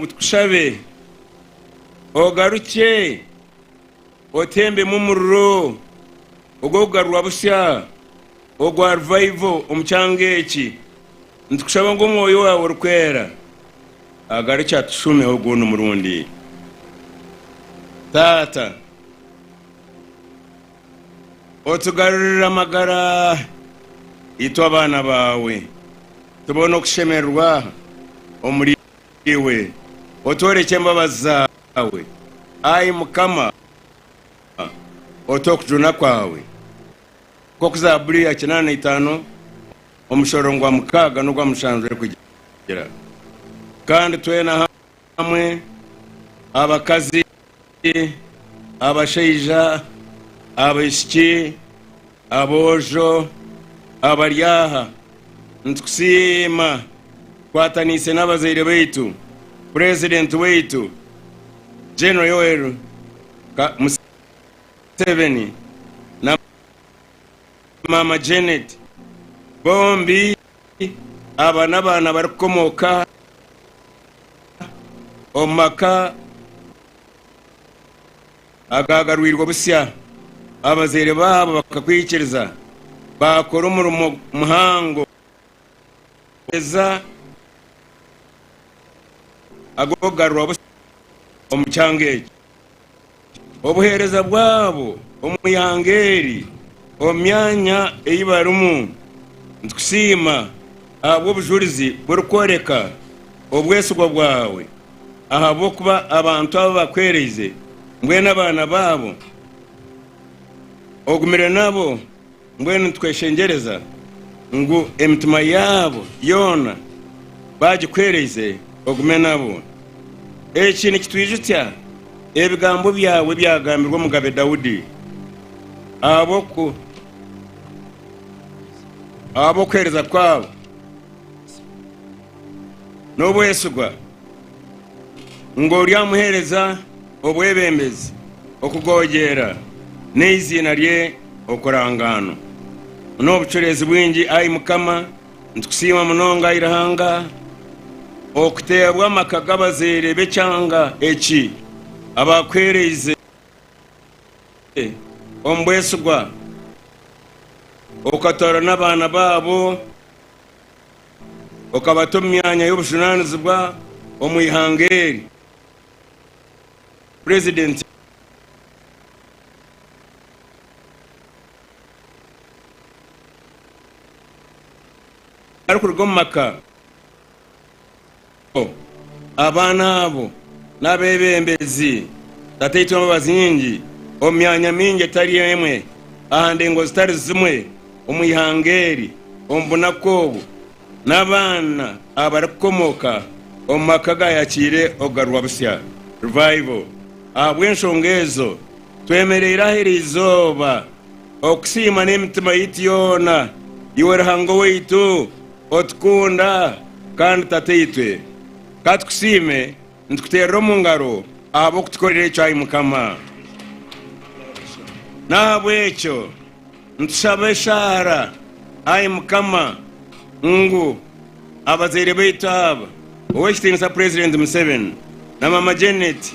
Ngu tukushabe ogarukye otembemu omuriro ogw'okugarurwa busya ogwa Revival omu kyanga eki. Nitukushaba ngu Omwoyo waawe Orikwera agarukye atushuumeho ogundi murundi, Taata. Otugarurire amagara, itwe abaana baawe tubone okushemererwa omuri. Iwe otworekye embabazi zaawe, ai Mukama, ote okujuna kwawe. Nk'oku Zaaburi ya kinaana na itaano omushororongo gwa mukaaga n'ogwa mushanju erikugira. Kandi twena hamwe, abakazi, Abakazi, abashaija, abaishiki, aboojo abari aha, nitukusiima tukwataniise n'abazaire baitu, Purezidenti waitu General Yoweri Kaguta Museveni na Maama Janet bombi. Aba n'abaana barikukomooka omu maka agaagarwirwe busya. Abazaire baabo bakakwikiriza, baakora omurimo muhango gw'okuheereza ag'okugarura busya omu kyanga ekyo. Obuheereza bwabo omu ihanga eri omu myanya ei barimu. Nitukusiima ahabw'obujurizi burikworeka obwesigwa bwawe ahabw'okuba abantu abu bakwereize mbwenu abaana baabo ogumire nabo. Mbwenu nitweshengyereza ngu emitima yaabo yoona baagikwereize ogume nabo. Eki nikitwijukya ebigambo byawe ebyagambirwe Omugabe Daudi ahabw'okuheereza kwabo n'obwesigwa, ngu, Oryamuheereza Obwebembezi, okugoogyera, n'eiziina rye okurangaanwa. Buna obucureezi bwingi ai Mukama, nitukusiima munonga ai Ruhanga, okuteebwa amaka g'abazaire b'ekyanga eki abaakuheereize omu bwesigwa, okatoorana abaana baabo, okabata omu myanya y'obujunaanizibwa omu ihanga eri. Purezidenti arikuruga omu maka go, abaana abo n'abeebembezi, Tata Eitu Embabazi-Nyingi, omu myanya mingi etari emwe, aha ndengo zitari zimwe omu ihanga eri, omu bunaku obu. n'abaana abarikukomoka omu maka agaayakiire okugarurwa busya, revival. Ahabw'enshonga ezo, twemereire aha eri izooba okusiima n'emitima yaitu yoona iwe Ruhanga owaitu otukunda kandi Tataitwe. Ka tukusiime Nitukuteerera omu ngaro ahabw'okutukorera ekyo, ai Mukama. N'ahabw'ekyo nitushaba eshaara, ai Mukama, ngu abazaire baitu aba, Ow'ekitiinisa Purezidenti Museveni na Maama Janet,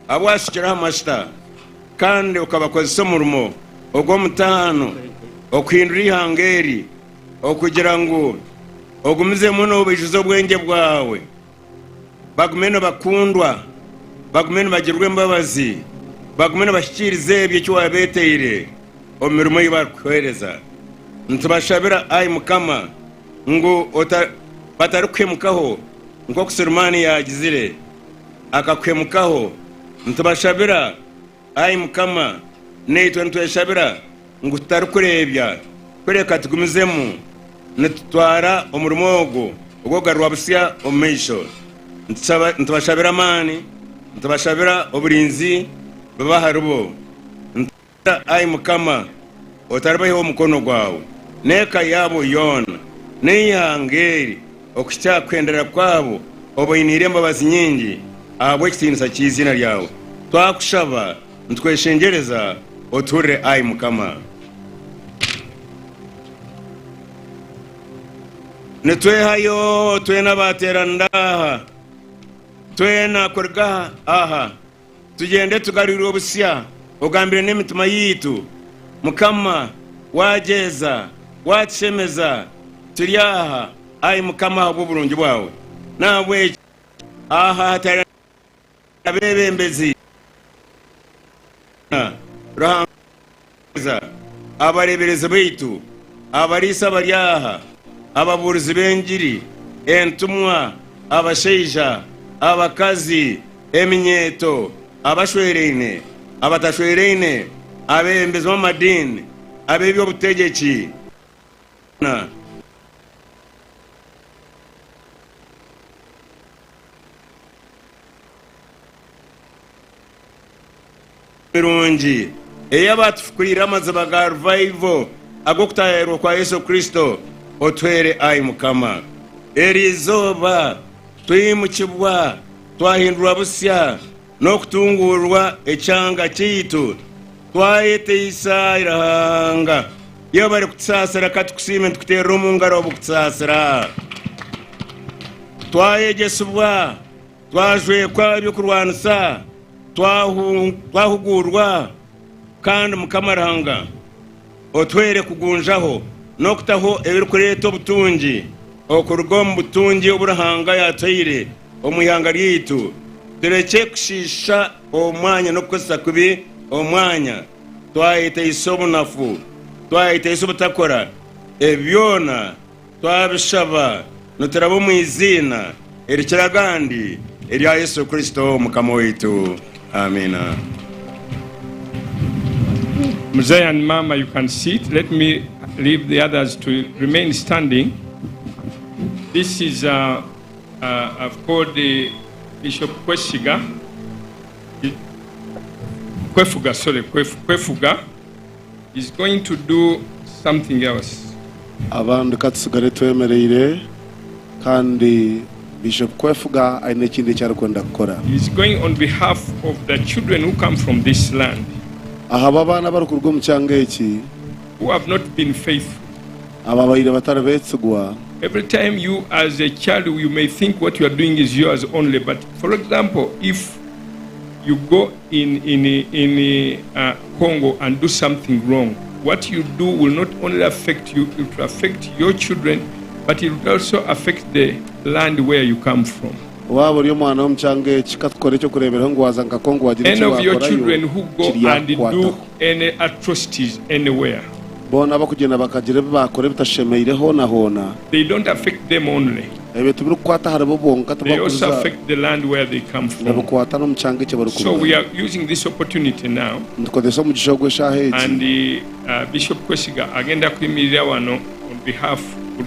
abu waashukire aha majuta kandi okabakozesa omurimo ogw'omutaano okuhindura eihanga eri, okugira ngu ogumizemu noobaijuza obwengye bwawe. bagume nibakundwa, bagume nibagirirwa embabazi, bagume nibahikiiriza ebyo eki waabeeteire omu mirimo ei barikukuheereza. Nitubashabira, ai Mukama, ngu batarikuhemukaho nk'oku Sirimaani yaagizire akakuhemukaho. Nitubashabira. Ai Mukama, naitwe nitweshabira ngu tutarikureebya, kureka tugumizemu nitutwara omurimo ogwo ogw'okugarurwa busya omu maisho. Nitubashabira amaani, nitubashabira oburinzi bube aharibo. Nitubashabira, ai Mukama, otaribaihaho omukono gwawe n'eka yaabo yoona, n'eihanga eri, okuhitsya aha kuhendera kwabo, obainiire embabazi nyingi ahabw'ekitiinisa ky'eiziina ryawe. Twakushaba nitweshengyereza, otuhurire ai Mukama. Nitwehayo twena abaateeranira aha, twena kuruga aha. Tugyende tugarurwe obusya ogambire n'emitima yaitu Mukama wagyeza watushemeza turi aha Ai Mukama ahabw'oburungi bwawe n'ahabw'ekyo aha hatari abebembezi Ruhanga Abaheereza, abareeberezi baitu, abariisa abari aha, ababuurizi b'engiri, entumwa, abashaija, abakazi, eminyeeto, abashweraine, abatashweraine, abeebembezi b'amadiini, ab'eby'obutegyeki, ab'eby'obufuuha, mirungi ei abaatufukireire amaziba ga ruvaivo ag'okutaayaayirwa kwa Yesu Kristo, otuheere, ai Mukama. Eri izooba twimukibwa, twahindurwa busya, n'okutunguurwa ekyanga kyaitu, twayeteisa eihanga ry'abu barikutusaasira ka tukusiime nitukuteerera omu ngaro obukutusaasira, twayegyesibwa, Twajwekwa eby'okurwanisa, twahuguurwa, kandi Mukama Ruhanga otuhaire kugunjaho n'okutaho ebirikureeta obutungi okuruga omu butungi obu Ruhanga yaataire omu ihanga ryaitu, turekye kushiisha omwanya n'okukozesa kubi omwanya, twayetaisa obunafu, twayetaisa obutakora, ebi byona. Twabishaba nituraba omu iziina erikira agandi erya Yesu Kristo Omukama waitu. Amiina. Mzee and Mama, you can sit. Let me leave the others to remain standing. This is, uh, uh, I've called the Bishop Kwesiga. Kwefuga, sorry, Kwefuga. He's going to do something else. Abandi ka tusigare twemereire kandi baije kukwefuga aine ekindi eki arikwenda kukora. He's going on behalf of the children who come from this land. Ahaba abaana abarikuruga omu kyanga eki. Who have not been faithful. Ababaire batari betsigwa. Every time you as a child you may think what you are doing is yours only but for example if you go in in in Congo and do something wrong what you do will not only affect you it will affect your children but it will also affect the land where you come from. Waaba ori omwana w'omu kyanga eki, ka tukore eky'okureeberaho ngu waaza nka Congo waagira eki waakorayo, kiryakukwataho. Any atrocities anywhere. Boona abakugyenda bakagira ebi baakora ebitashemeire hoona hoona. They don't affect them only. Ebyo tibirikukwata aharibo bonka, They also tibakuza affect the land where they come from. nibikwata n'omu kyanga eki So we barikurugamu. are using this opportunity now Nitukozesa omugisha ogu eshaaha egi. and uh, Bishop Kwesiga agenda kuyimiriraho ano on behalf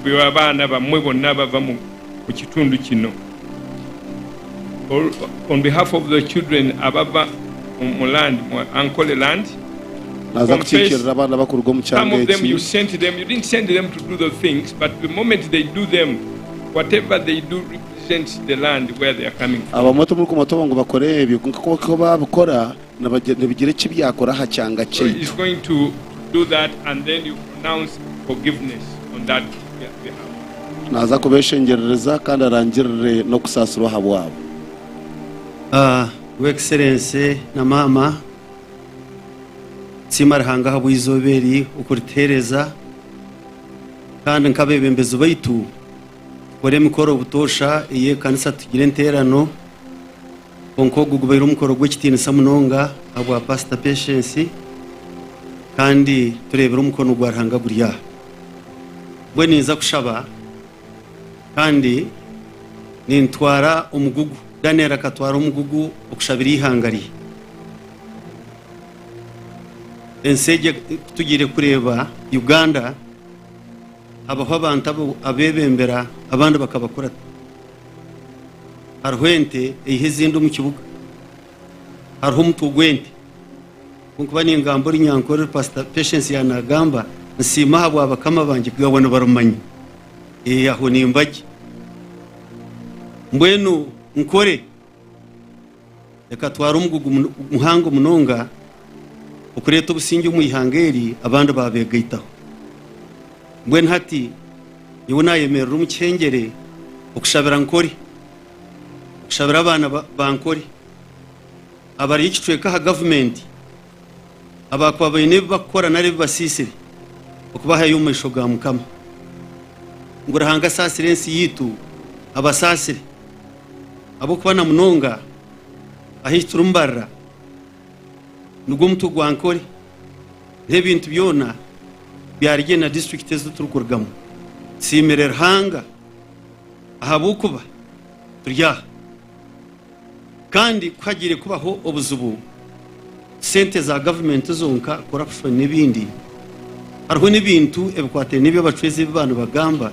rw'abaana bamwe bonna abava mu omu kitundu kinu. On behalf of the children ababa omu land mu Ankole land we Naaza confess kukiikirira abaana abakuruga omu some kyanga of them eki. you sent them you didn't send them to do those things but the moment they do them whatever they do represents the land where they are coming from. Abamwe timurikumanya obu ngu bakore ebyo, kwonka ku baabikora Nibigira eki byakora aha kyanga kyaitu. Naaza kubeeshengyerereza kandi arangirire n'okusaasirwa ahabwabo. Your Excellency na Maama, nsiima Ruhanga ahabw'eizooba eri okurituheereza kandi nk'abeebembezi baitu kukora emikoro butoosha ey'ekanisa tugire enteerano. Kwonka ogu gubaire omukoro gw'ekitiinisa munonga ahabwa Pasita Patience kandi tureebire omukono gwa Ruhanga guri aha. Mbwenu ninza kushaba kandi nintwara omugugu, Daniel akatwara omugugu okushabira eihanga rye. Ensi egi ku tugiire kureeba Uganda, habaho abantu abebembera abandi bakabakurakuza. Hariho ente eiha ezindi omu kibuga, hariho omutwe gw'ente. Kunkuba ningamba ori nyankorere Pastor Patience ya nagamba nsiima aha bwa bakama bangye kugabwa nibarumanya. Eh, aho nimbagye. Mbwenu nkore Ekatwara omugugu muhango munonga okureeta obusingye omu ihanga eri abandi baabeegaitaho. Mbwenu hati nyowe naayemerera omu kihengyere okushabira nkore, okushabira abaana bankore abari ekicweka aha gavumenti. abaakuba baine ebi bakukora nari ebi basiisire okubahayo omu maisho ga Mukama. Ngu Ruhanga asaasire ensi yaitu, abasaasire, ahabw'okuba na munonga ahu eki turimubarira nigwo mutwe gwa Ankole n'ebintu byona bya Rigye na disiturikiti ezi turikurugamu. Tusiimire Ruhanga ahabw'okuba turi aha. Kandi ku hagiire kubaho obuzibu, sente za gavumenti zonka, corruption n'ebindi, hariho n'ebintu ebikwataine n'ebi abacwezi ebi ba nibagamba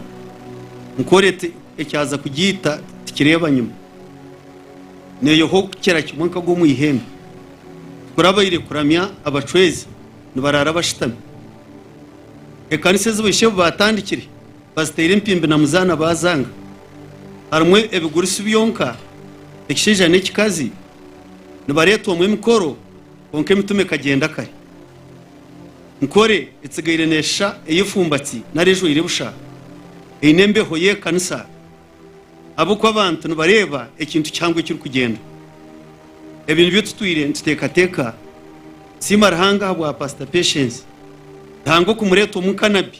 ngu ori ekyaza kugiita tikireeba nyima, neeyoha okukira kimwe nkagwa omu ihembe. Tikurabaire kuramya abacwezi nibaraara bashutami ekanisa ezi baishebu baatandikire. bazitaire empimbi na muzaana baazanga. Harimu ebigurisi byonka, ekishaija n'ekikazi, nibareetwamu emikoro, kwonka emitume ekagyenda kare. Nkore etsigaire neeshisha eyefumbatsi nari ejwaire busha, eine embeho y'ekanisa, ahabw'okuba abantu nibareeba ekintu kihango ekirikugyenda. Ebi nibyo tutwire nituteekateeka. Nsiima Ruhanga ahabwa Pasita Patience. Ruhanga okumureetwamu nka Nabi.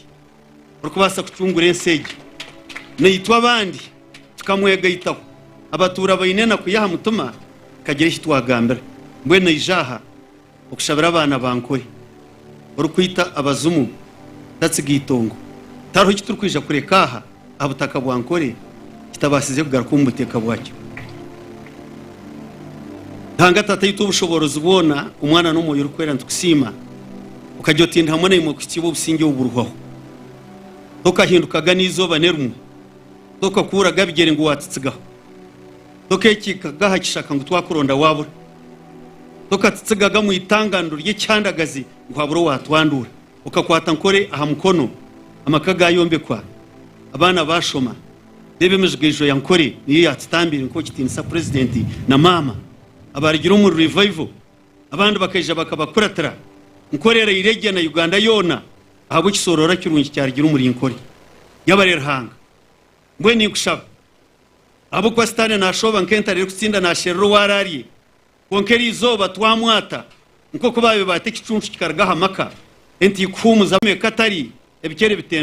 orikubaasa kucungura ensi egi. Naitwe abandi tukamwegaitaho. Abatuura baine enaku y'aha mutima tukagira eki twagambira. Mbwenu aije aha okushabira abaana ba Nkore. Orikwita abazimu tatsiga eitongo. Tihariho eki turikwija kureka aha aha butaka bwa Nkore kitabaasize kugaruka omu buteeka bwakyo. Ruhanga Tata aitwe Obushoboorozi bwona, Omwana n'Omwoyo Orikwera nitukusiima. Okagira oti, Ndi hamwe naimwe kuhikiibwa obusingye obu burihwaho. Tokahindukaga n'eizooba n'erimwe, tokakuuraga bigyere ngu waatitsigaho, tokeekiikaga aha kishaka ngu twakuronda waabura, tokatitsigaga omu itanganiro ry'ekihandagazi ngu habure owaatwanduura. Okakwata nkore aha mukono, amaka gaayombekwa, abaana baashoma, reeba emijigaijo ya Nkore niyo yaakitambiire nk'okitiinisa Purezidenti na Maama abaarugire omuri Revival. Abandi bakaija bakabakuratira nkore eraire gye na Uganda yoona ahabw'ekisooroora kirungi kyarugire omuri nkore yabaire Ruhanga. Mbwenu ninkushaba ahabw'okuba sitaane naashooba nk'entare erikutsinda naasherura ou araarye kwonka eri izooba twamwata nk'oku baabibaata ekicuncu kikaruga aha maka entiikuhuumuza eka tari ebicere bitembi.